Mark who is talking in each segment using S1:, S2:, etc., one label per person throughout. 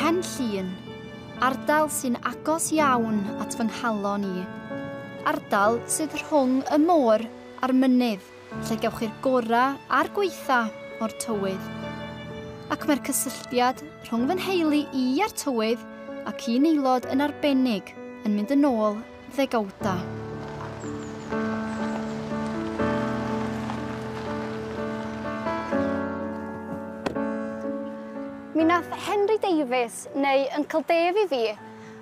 S1: Pen Llun, ardal sy'n agos iawn at fy nghalon i. Ardal sydd rhwng y môr a'r mynydd lle gewch chi'r gorau a'r gweitha o'r tywydd. Ac mae'r cysylltiad rhwng fy nheulu i a'r tywydd ac un aelod yn arbennig yn mynd yn ôl ddegawdau. Mi nath Henry Davies, neu Uncle Dave i fi,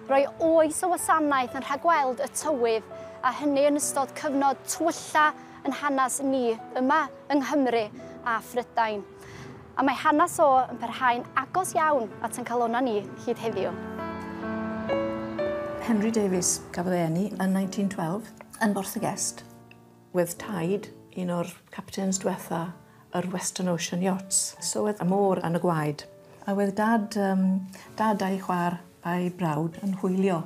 S1: roi oes o wasanaeth yn rhagweld y tywydd, a hynny yn ystod cyfnod twylla yn hanes ni yma yng Nghymru a Phrydain. A mae hanes o yn parhau'n agos iawn at ein calonnau ni hyd heddiw. Henry Davies, gafodd ei eni yn 1912 yn Borthygest. Wedd Taid, un o'r captains diwetha yr Western Ocean Yachts. So wedd y môr yn y gwaed. A wedd Dad, um, Dad a'i chwar a'i brawd yn hwylio.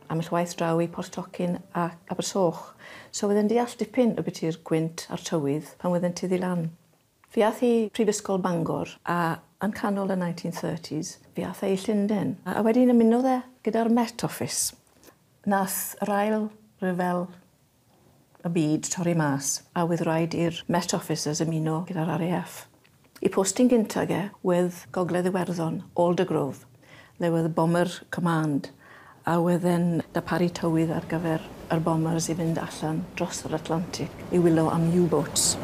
S1: Am y waith draw i Port Tocyn a Abersoch. So wedd yn deall dipyn y biti'r gwynt a'r tywydd pan wedd yn tiddi lan. Fe ath i Prifysgol Bangor a yn canol y 1930s fe ath e i Llunden a wedyn ymunodd e gyda'r Met Office. Nath yr ail ryfel y byd torri mas a wedd raid i'r Met Officers ymuno gyda'r RAF. Y postyn gyntag e wedd Gogledd Iwerddon, Aldergrove. There were the bomber command a oedd e'n darparu tywydd ar gyfer yr bombers i fynd allan dros yr Atlantic i wylio am U-boats.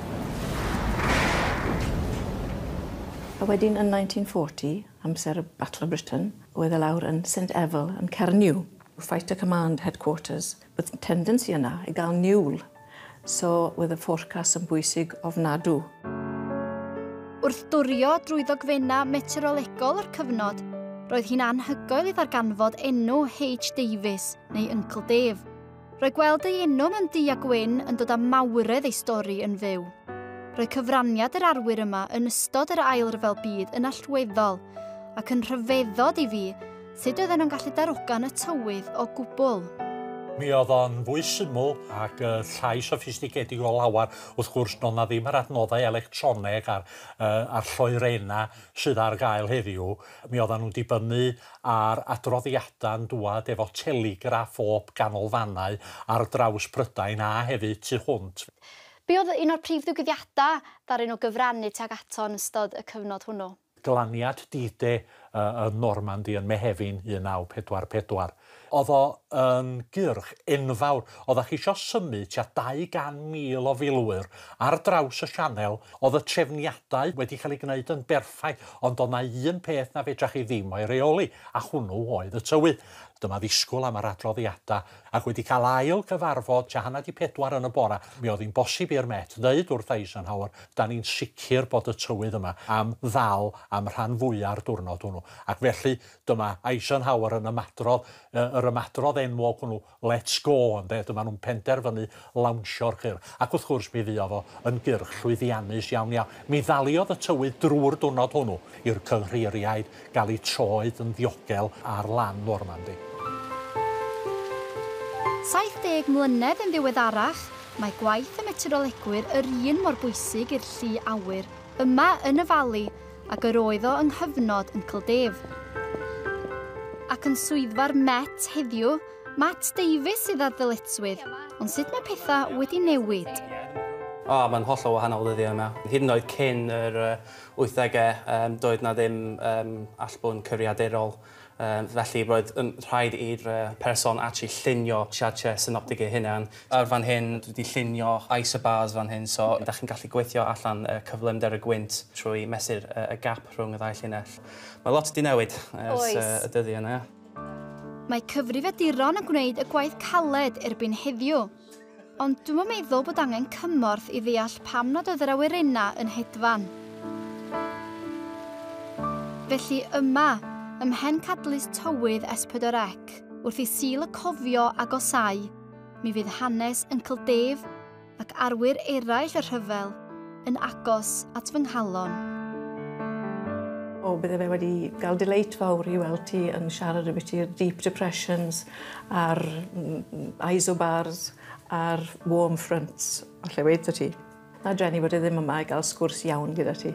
S1: A wedyn yn 1940, amser y Battle of Britain, oedd e lawr yn Saint Evel yn Cernyw. Fighter Command Headquarters. Oedd tendency yna i gael niwl, so oedd y forecast yn bwysig ofnadw. Wrth durio drwy ddogfennau meteorolegol yr cyfnod, roedd hi'n anhygoel i ddarganfod enw H. Davies, neu Uncle Dave. Roedd gweld ei enw mewn du a gwyn yn dod â mawredd ei stori yn fyw. Roedd cyfraniad yr arwyr yma yn ystod yr Ail Ryfel Byd yn allweddol, ac yn rhyfeddod i fi Sut oedden nhw'n gallu darogan y tywydd o gwbl? Mi oedd o'n fwy syml ac uh, llai soffistigedig o lawer. Wrth gwrs, doedd na ddim yr adnoddau electroneg a'r, uh, a'r lloerena sydd ar gael heddiw. Mi oedden nhw'n dibynnu ar adroddiadau'n dŵad efo telegraff o ganolfannau ar draws Prydain a hefyd tu hwnt. Be oedd un o'r prif ddigwyddiadau ddaru nhw gyfrannu tuag ato yn ystod y cyfnod hwnnw? glaniad D-Day yn Normandy yn Mehefin 1944. Oedd o yn gyrch enfawr. Oeddach chi isio symud tua 200,000 o filwyr ar draws y sianel, oedd y trefniadau wedi cael eu gwneud yn berffaith, ond oedd 'na un peth na fedrach chi ddim o'i reoli, a hwnnw oedd y tywydd. Dyma ddisgwyl am yr adroddiadau Ac wedi cael ail gyfarfod tua hanner 'di pedwar yn y bora, mi oedd hi'n bosib i'r Met ddeud wrth Eisenhower, 'dan ni'n sicr bod y tywydd yma am ddal am rhan fwya'r diwrnod hwnnw. Ac felly, dyma Eisenhower yn ymadrodd, yr ymadrodd enwog hwnnw, 'Let's go', ynde, dyma nhw'n penderfynu lawnsio'r cyrch, ac wrth gwrs mi fuodd o yn gyrch llwyddiannus iawn iawn. Mi ddaliodd y tywydd drwy'r diwrnod hwnnw i'r cynghreiriaid gael eu troed yn ddiogel ar lan Normandy. 70 mlynedd yn ddiweddarach, mae gwaith y meteorolegwyr yr un mor bwysig i'r llu awyr yma yn y Fali ag yr oedd o yng nghyfnod Uncle Dave. Ac yn swyddfa'r Met heddiw, Matt Davies sydd â'r ddyletswydd, ond sut mae pethau wedi newid? O, mae'n hollol wahanol ddyddiau yma. Hyd yn oed cyn yr 80au, um, doedd na ddim um, allbwn cyfriaderol. Um, felly roedd yn rhaid i'r uh, person actually llunio siartiau synoptig ei hunan. Ar fan hyn, dwi wedi llunio isobars fan hyn, so da chi'n gallu gweithio allan uh, cyflymder y gwynt trwy mesur uh, y gap rhwng y ddau llinell. Mae lot wedi newid ers uh, y dyddiau yna. Mae cyfrifiaduron yn gwneud y gwaith caled erbyn heddiw. Ond dwi'm yn meddwl bod angen cymorth i ddeall pam nad oedd yr awyrennau yn hedfan. Felly yma, ym mhen cadlys tywydd S4C, wrth i Sul y Cofio agosáu, mi fydd hanes Uncle Dave, ac arwyr eraill y rhyfel yn agos at fy nghalon. O, bydde fe wedi gael delight fawr i weld ti yn siarad y bit i'r deep depressions a'r isobars a'r warm fronts. O lle wedi ti. Na Jenny bod e ddim yma i gael sgwrs iawn gyda ti.